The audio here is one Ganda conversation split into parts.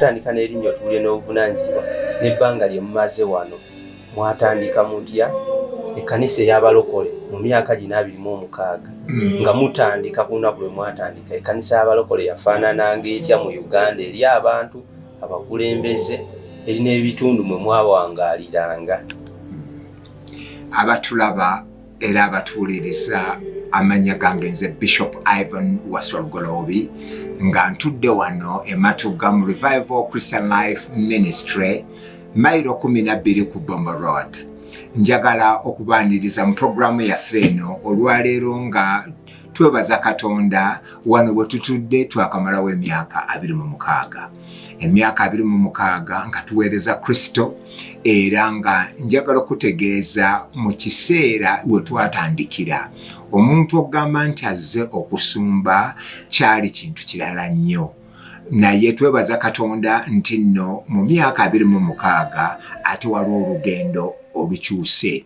Tandika n'erinnya otuulire n'obuvunaanyizibwa n'ebbanga lye mumaze wano. Mwatandika mutya ekkanisa ey'abalokole mu myaka gino abiri mu omukaaga hmm. nga mutandika ku lunaku lwe mwatandika ekkanisa y'abalokole yafaanananga etya mu Uganda eri abantu abakulembeze eri n'ebitundu mwe mwawangaaliranga? Abatulaba era abatuuliriza amanya gange nze bishop ivan waswa lugoloobi nga ntudde wano ematugga mu revival christian life ministry mairo 12 ku bombo road njagala okubaaniriza mu puroguramu yaffe eno olwaleero nga twebaza katonda wano bwe tutudde twakamalawo emyaka 26 emyaka abiri mu mukaaga nga tuweereza kristo era nga njagala okutegeeza mu kiseera we twatandikira omuntu okugamba nti azze okusumba kyali kintu kirala nnyo naye twebaza katonda nti nno mu myaka abiri mu mukaaga ate waliwo olugendo olukyuse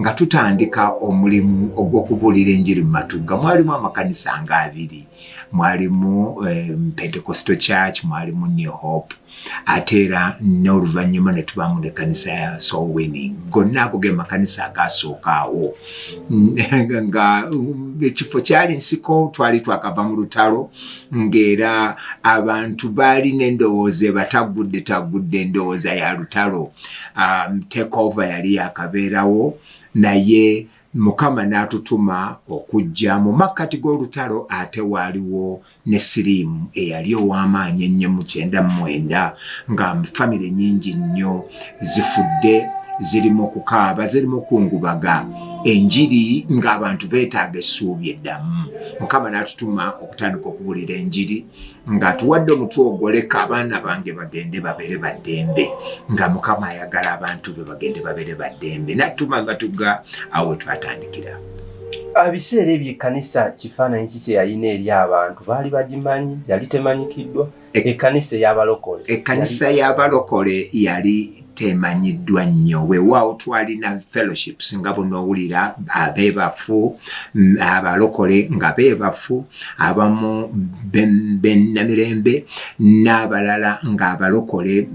nga tutandika omulimu ogw'okubuulira enjiri mu matugga mwalimu amakanisa nga abiri mwalimu eh, pentecosto church mwalimu new hope ate era n'oluvannyuma ne tubaamu nekanisa ya soul winning gonna ago ge makanisa agasookaawo nga um, ekifo kyali nsiko twali twakava mu lutalo ng'era abantu baali n'endowooza ebataggudde taggudde endowooza ya lutalo um, takeover yali yakabeerawo naye mukama n'atutuma okujja mu makkati g'olutalo ate waaliwo ne siriimu eyali ow'amaanyi ennyo mu kyenda mu mwenda nga famire nyingi nnyo zifudde ziri mu kukaaba ziri mu kungubaga enjiri ng'abantu beetaaga essuubi eddamu mukama n'atutuma okutandika okubuulira enjiri nga atuwadde omutwe ogwoleka abaana bange bagende babere baddembe nga mukama ayagala abantu be bagende babere baddembe natuma nga tuga awo twatandikira abiseera ebyo ekkanisa kifaananyi ki kye yalina eri abantu baali bagimanyi yali temanyikiddwa e- ekkanisa eyabalokole ekkanisa yabalokole yali temanyiddwa nnyo wewaawo twalina fellowships nga bunowulira abebafu mm, abalokole nga bebafu abamu benamirembe n'abalala ngaabalokole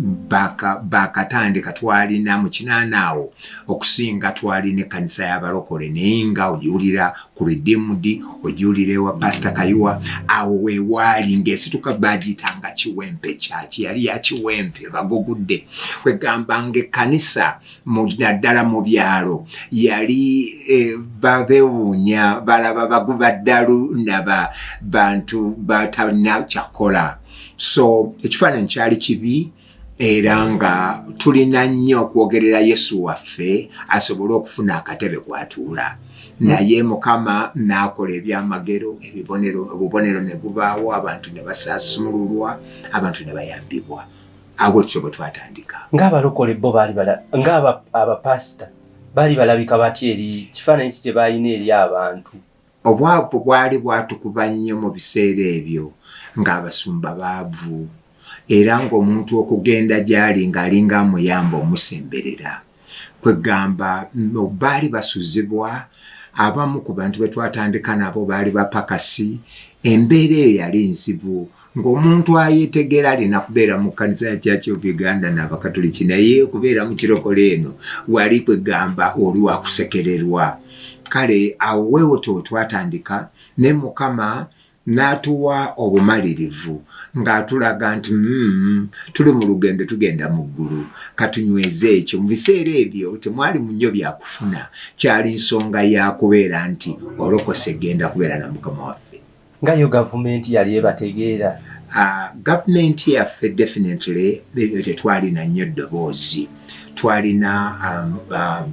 bakatandika twalina mu kinaanaawo okusinga twalina ekkanisa y'abalokole naye nga owulira ku redeemed ogiwulirewa pasita kayiwa awo wewaali ngaesituka bagiyitanga kiwempe kyaki yali yakiwempe bagugudde kwegamba nga ekkanisa naddala mu byalo yali e, babewuunya balaba baguba ddalu naba bantu batalina kyakola so ekifaananyi kyali kibi era nga tulina nnyo okwogerera yesu waffe asobole okufuna akatebe kwatuula naye mukama naakola ebyamagero ebibonero obubonero ne bubaawo abantu ne basaasumululwa abantu ne bayambibwa abo kyo bwe twatandika ngaabalokole bo baali ngaabapasita baali balabika batya eri kifaananyi ki kye baalina eri abantu Obwavu bwali bwatukuba nnyo mu biseera ebyo ng'abasumba baavu era ng'omuntu okugenda gy'ali ng'alinga amuyamba omusemberera. Kweggamba baali basuzibwa, abamu ku bantu be twatandika nabo baali bapakasi, embeera eyo yali nzibu. ng'omuntu ayetegera alina kubeera mu kkanisa ya church of uganda n'abakatuliki naye kubeera mu kirokole eno wali kwegamba oli wakusekererwa kale awo wewoto wetwatandika ne mukama n'atuwa obumalirivu ng'atulaga nti mm, tuli mu lugendo tugenda mu ggulu katunyweze ekyo mu biseera ebyo temwali mu nnyo byakufuna kyali nsonga ya kubeera nti olokose genda kubeera na mukama waffe nga yo gavumenti yali ebategeera ah, gavumenti yaffe definitely ebyo tetwalina nnyo eddoboozi twalina um,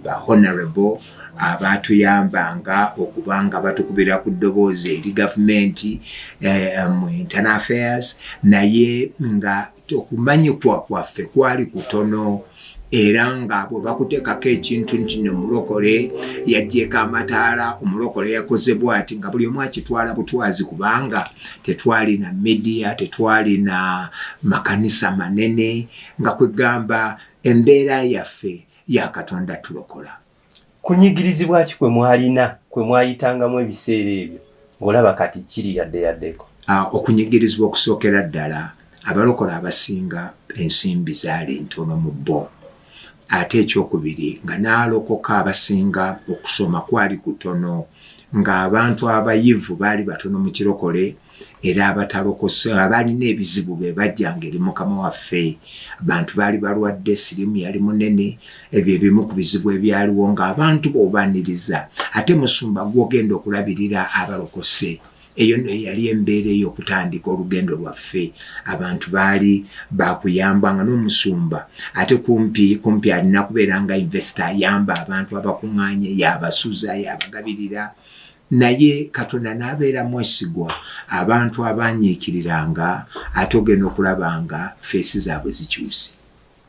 bahonorable abatuyambanga ah, okubanga batukubira ku ddoboozi eri gavumenti eh, mu internal affairs naye nga okumanyikwa kwaffe kwali kutono era nga bwe bakuteekako ekintu nti no mulokole yajjeeko amataala omulokole yakoze bwati nga buli omu akitwala butwazi kubanga tetwalina midiya tetwalina makanisa manene nga kwegamba embeera yaffe ya katonda tulokola kunyigirizibwa ki kwe mwalina kwe mwayitangamu ebiseera ebyo ng'olaba kati kiri yadde yaddeko ah, okunyigirizibwa okusookera ddala abalokole abasinga ensimbi zaali ntono mu bo ate ekyokubiri nga n'alokoka abasinga okusoma kwali kutono ng'abantu abayivu baali batono mu kirokole era abatalokose abaalina ebizibu be bajjanga eri mukama waffe abantu baali balwadde sirimu yali munene ebyo ebimu ku bizibu ebyaliwo ng'abantu boobaniriza ate musumba gwogenda okulabirira abalokose eyo no yali embeera ey'okutandika olugendo lwaffe abantu baali bakuyamba nga n'omusumba ate kumpi kumpi alina kubeera nga investa ayamba abantu abakuŋŋaanye yabasuza yabagabirira Naye Katonda n'abeera mwesigwa, abantu abaanyiikiriranga ate ogenda okulaba nga ffeesi zaabwe zikyuse.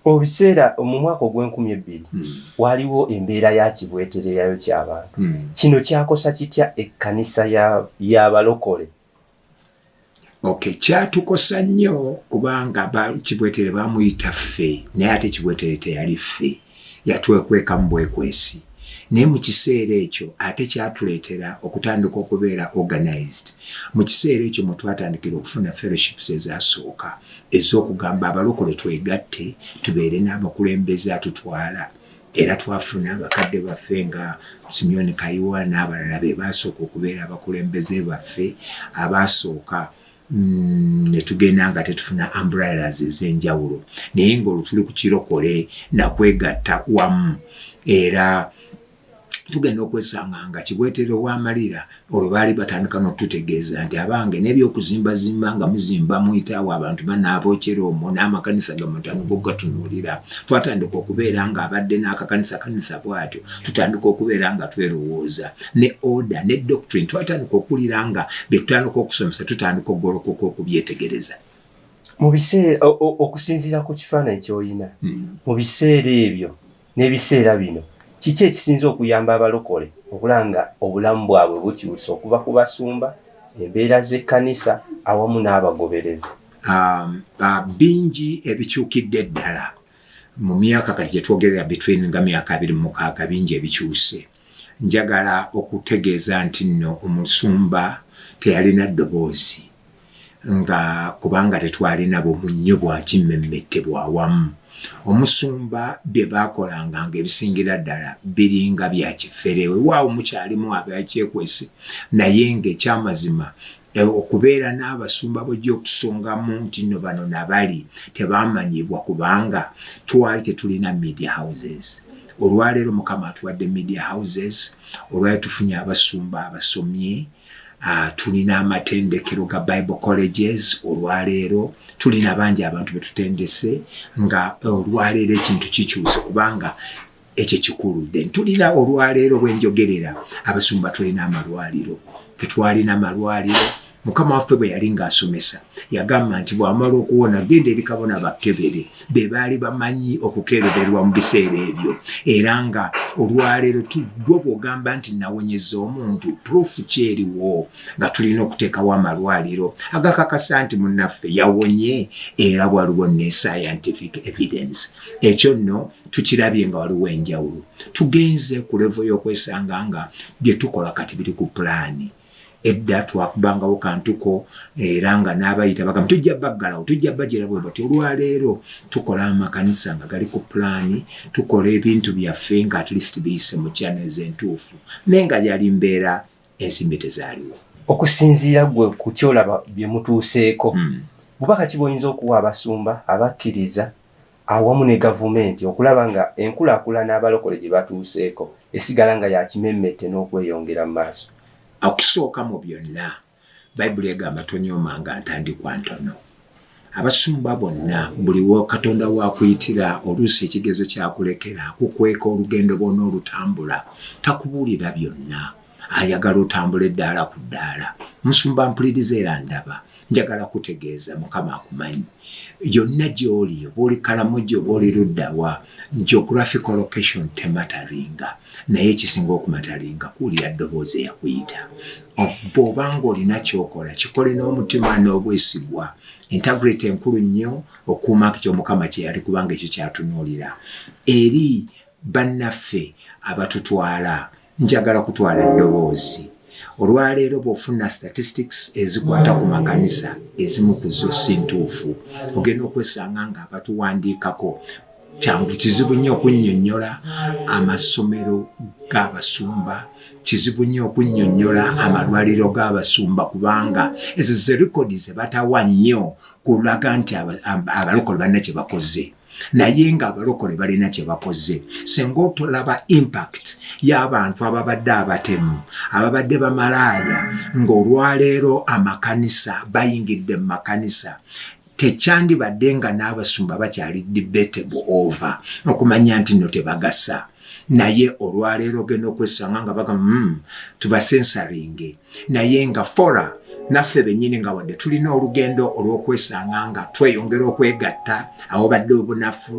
Mu biseera mu mwaka ogw'enkumi ebbiri hmm. waaliwo embeera ya kibwetereyayo ky'abantu. Hmm. Kino kyakosa kitya ekkanisa y'abalokole? Okay, kyatukosa nnyo kubanga kibwetere bamuyita ffe naye ate kibwetere teyali ffe yatwekwekamu bwekwesi naye mu kiseera ekyo ate kyatuleetera okutandika okubeera organized mu kiseera ekyo mwe twatandikira okufuna fellowships ezasooka ez'okugamba abalokole twegatte tubeere n'abakulembeze atutwala era twafuna bakadde baffe nga Simeon Kayiwa n'abalala be baasooka okubeera abakulembeze baffe abaasooka mm, ne tugenda nga tetufuna umbrellas ez'enjawulo naye ng'olwo tuli ku kirokole nakwegatta wamu era tugenda okwesanga nga kibwetere wamalira olwo baali batandika n'okututegeeza nti abange n'ebyokuzimbazimba nga muzimba muyitaawo abantu banaabokyera omwo n'amakanisa gamutano gogatunuulira twatandika okubeera nga abadde n'akakanisa kanisa bwatyo tutandika okubeera nga twerowooza ne oda ne doctrine twatandika okuwulira nga byetutandika okusomesa tutandika okugolokoka okubyetegereza okusinziira ku kifaananyi kyoyina hmm. mu biseera ebyo N'ebiseera bino kiki ekisinze okuyamba abalokole okulaba nga obulamu bwabwe bukyuse okuva ku basumba, embeera z'ekkanisa awamu n'abagoberezi? Bingi ebikyukidde ddala mu myaka kati gye twogerera between nga myaka abiri mu mukaaga bingi ebikyuse. Njagala okutegeeza nti nno omusumba teyalina ddoboozi. nga kubanga tetwalina bumunnyo bwa kimmemmette bwa wamu, omusumba bye baakolanga ng'ebisingira ddala biringa bya kifere. Weewaawo mukyalimu abakyekwese, naye ng'ekyamazima e, okubeera n'abasumba bw'ojja okusongamu nti nno bano na bali tebaamanyibwa kubanga twali tetulina media houses. Olwaleero Mukama atuwadde media houses, olwaleero tufunye abasumba abasomye, Uh, tulina amatendekero ga bible colleges olwaleero tulina bangi abantu betutendese nga eh, olwaleero ekintu kikyuse kubanga ekyo kikulu then tulina olwaleero bwenjogerera abasumba tulina amalwaliro tetwalina malwaliro mukama waffe bwe yali ng'asomesa yagamba nti bw'amala okuwona genda eri kabona bakkebere be baali bamanyi okukeereberwa mu biseera ebyo era nga olwaleero tuddwa bw'ogamba nti nawonyeza omuntu puruufu kyeriwo nga tulina okuteekawo amalwaliro agakakasa nti munnaffe yawonye era waliwo ne scientific evidence ekyo nno tukirabye nga waliwo enjawulo tugenze ku levo y'okwesanga nga bye tukola kati biri ku pulaani edda twakubangawo kantuko era nga n'abayita bagamba tujja baggalawo tujja bajera bwe bati olwaleero tukola amakanisa nga gali ku pulaani tukola ebintu byaffe nga at least biyise mu channels entuufu naye nga yali mbeera ensimbi tezaaliwo okusinziira gwe ku kyolaba bye mutuuseeko hmm. bubaka ki bwoyinza okuwa abasumba abakkiriza awamu ne gavumenti okulaba nga enkulakulana abalokole gye batuuseeko esigala nga ya kimemmette n'okweyongera mu maaso. Okusooka mu byonna, Baibuli egamba tonyoomanga ntandikwa ntono. Abasumba bonna, buli wa Katonda wakuyitira, oluusi ekigezo kyakulekera, akukweka olugendo bwona olutambula, takubuulira byonna. ayagala otambula eddaala ku ddaala musumba mpuliriza era ndaba njagala kutegeeza mukama akumanyi yonna gyoli oba oli kalamugi oba oli luddawa geographical location temataringa naye ekisinga okumataringa kuwulira ddoboozi eyakuyita bw'oba ng'olina kyokola kikole n'omutima n'obwesigwa integrity enkulu nnyo okuuma kyo mukama kyeyali kubanga ekyo kyatunuulira eri Bannaffe abatutwala, njagala kutwala ddoboozi. Olwaleero bw'ofuna statistics ezikwata ku makanisa, ezimu ku zo si ntuufu. Ogenda okwesanga ng'abatuwandiikako kyangu kizibu nnyo okunnyonnyola amasomero g'abasumba, kizibu nnyo okunnyonnyola amalwaliro g'abasumba kubanga ezo ze likodi ze batawa nnyo kulaga nti abalokole balina kye bakoze. naye nga abalokole balina kyebakoze senga otolaba impact y'abantu ababadde abatemu ababadde bamalaaya ng'olwaleero amakanisa bayingidde mu makanisa tekyandibadde nga n'abasumba bakyali debatable over okumanya nti no tebagasa naye olwaleero ogenda okwesanga nga bagamba mm, tubasensaringe naye nga fora naffe bennyini nga wadde tulina olugendo olw'okwesanga nga tweyongera okwegatta awobadde obunafu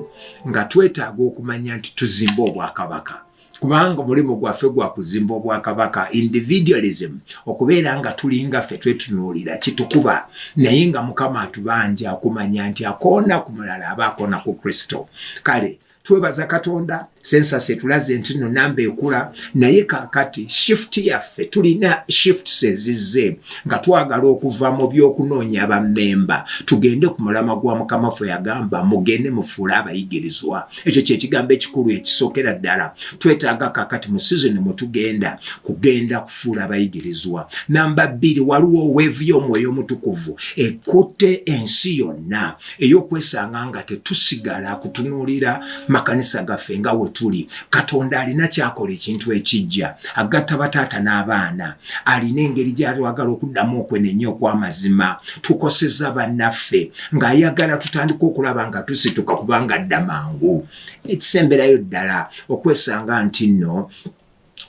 nga twetaaga okumanya nti tuzimba obwakabaka kubanga omulimu gwaffe gwa kuzimba obwakabaka individualism okubeera nga tulinga ffe twetunuulira kitukuba naye nga mukama atubanja okumanya nti akoona ku mulala aba akoona ku kristo kale twebaza katonda sensasi etulaze nti no namba ekula naye kakati shift yaffe tulina shift sezizze nga twagala okuva mu byokunoonya bamemba tugende ku mulama gwa mukama ffe yagamba mugende mufuule abayigirizwa ekyo kyekigambo ekikulu ekisokera ddala twetaaga kakati mu sizoni mwetugenda kugenda kufuula abayigirizwa namba bbiri waliwo weevu y'omwoyo omutukuvu ekutte ensi yonna ey'okwesanga nga tetusigala kutunuulira makanisa gaffe nga we tuli katonda alina kyakola ekintu ekijja agatta bataata n'abaana alina engeri gyatwagala okuddamu okwenenya okw'amazima tukoseza bannaffe ng'ayagala tutandika okulaba nga tusituka kubanga dda mangu ekisemberayo ddala okwesanga nti nno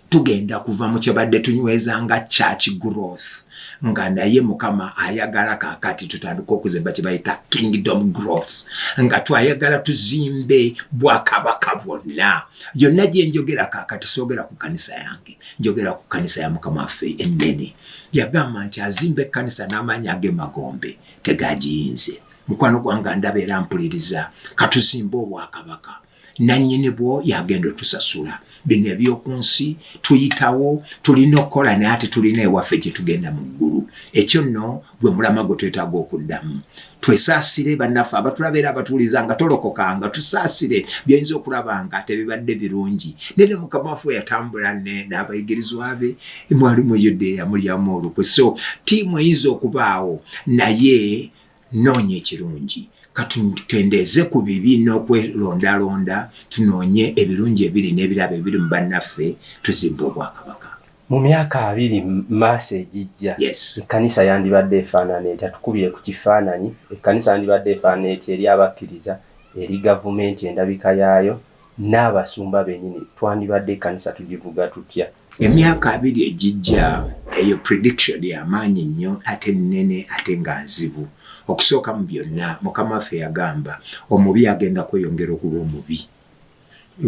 tugenda kuva mu kyebadde tunyweza nga church growth nga naye mukama ayagala kakati tutandika okuzimba kyebayita kingdom growth nga twayagala tuzimbe bwakabaka bwonna yonna gyenjogera kakati soogera ku kanisa yange njogera ku kanisa ya mukama waffe ennene yagamba nti azimba ekkanisa n'amaanyi ag'emagombe tegagiyinze mukwano gwanga ndabeera mpuliriza katuzimba obwakabaka nannyini bwo yagenda otusasula bino ebyoku nsi tuyitawo tulina okukola naye ate tulina ewaffe gye tugenda mu ggulu ekyo nno gwe mulama gwe twetaaga okuddamu twesaasire bannaffe abatulabeera abatuuliza nga tolokoka nga tusaasire byoyinza okulaba nga tebibadde birungi naye ne mukama waffe yatambula n'abayigirizwa be mwali mu yudeya mulyamu olukwe so tiimu eyinza okubaawo naye Noonya ekirungi. Katukendeeze ku bibi n'okwerondalonda, tunoonye ebirungi ebiri n'ebirabo ebiri mu bannaffe, tuzimbe obwakabaka. Mu myaka abiri mu maaso egijja, ekkanisa yandibadde efaanana etya? Tukubire ku kifaananyi. Ekkanisa yandibadde efaanana etya eri abakkiriza, eri gavumenti, endabika yaayo? n'abasumba benyini twandibadde ekanisa tugivuga tutya emyaka abiri egijja eyo prediction yamaanyi nnyo ate nene ate nga nzibu okusooka mu byonna mukama waffe yagamba omubi agenda kweyongera okuba omubi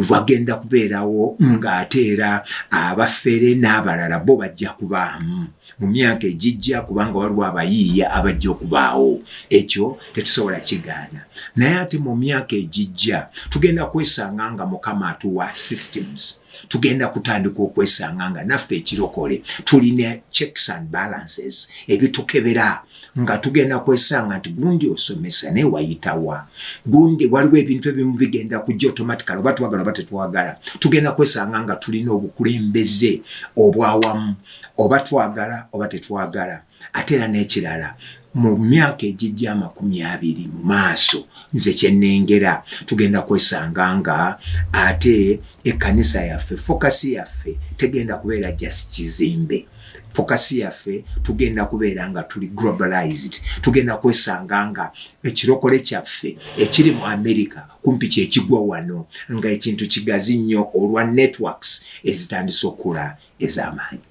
wagenda kubeerawo ng'ate era abafere n'abalala bo bajja kubaamu mu myaka egijja kubanga waliwo abayiiya abajja okubaawo ekyo tetusobola kigaana naye ate mu myaka egijja tugenda kwesanga nga mukama atuwa systems tugenda kutandika okwesanga nga naffe ekirokole tulina checks and balances ebitukebera nga tugenda kwesanga nti gundi osomesa naye wayitawa gundi waliwo ebintu ebimu bigenda kujja automatically oba twagala oba tetwagala tugenda kwesanga nga tulina obukulembeze obwawamu oba twagala oba tetwagala ate era n'ekirala mu myaka egijja amakumi abiri mu maaso nze kyenengera tugenda kwesanga nga ate ekkanisa yaffe fokasi yaffe tegenda kubeera jasi kizimbe fokasi yaffe tugenda kubeera nga tuli globalized tugenda kwesanga nga ekirokole kyaffe ekiri mu america kumpi kyekigwa wano nga ekintu kigazi nnyo olwa networks ezitandise okukula ez'amaanyi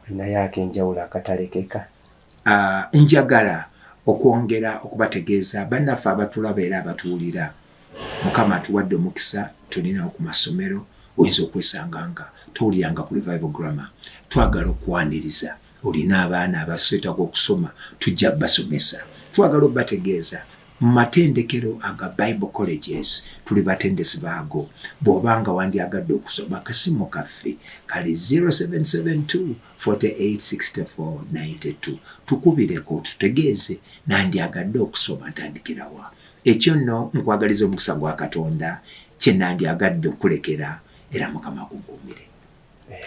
naye akenjawulo akatalekeka ah, njagala okwongera okubategeeza bannaffe abatulaba era abatuwulira mukama atuwadde omukisa tulinawo ku masomero oyinza okwesanga nga towuliranga ku revival grammar twagala okwaniriza olina abaana abaswetaga okusoma tujja basomesa twagala obategeeza mu matendekero aga bible colleges tuli batendesi baago bw'oba nga wandyagadde okusoma akasimu kaffe kali 0772486492 tukubireko tutegeeze nandyagadde okusoma ntandikirawa Ekyo nno nkwagaliza omukisa gwa Katonda, kye nandyagadde okukulekera, era Mukama akunkuumire.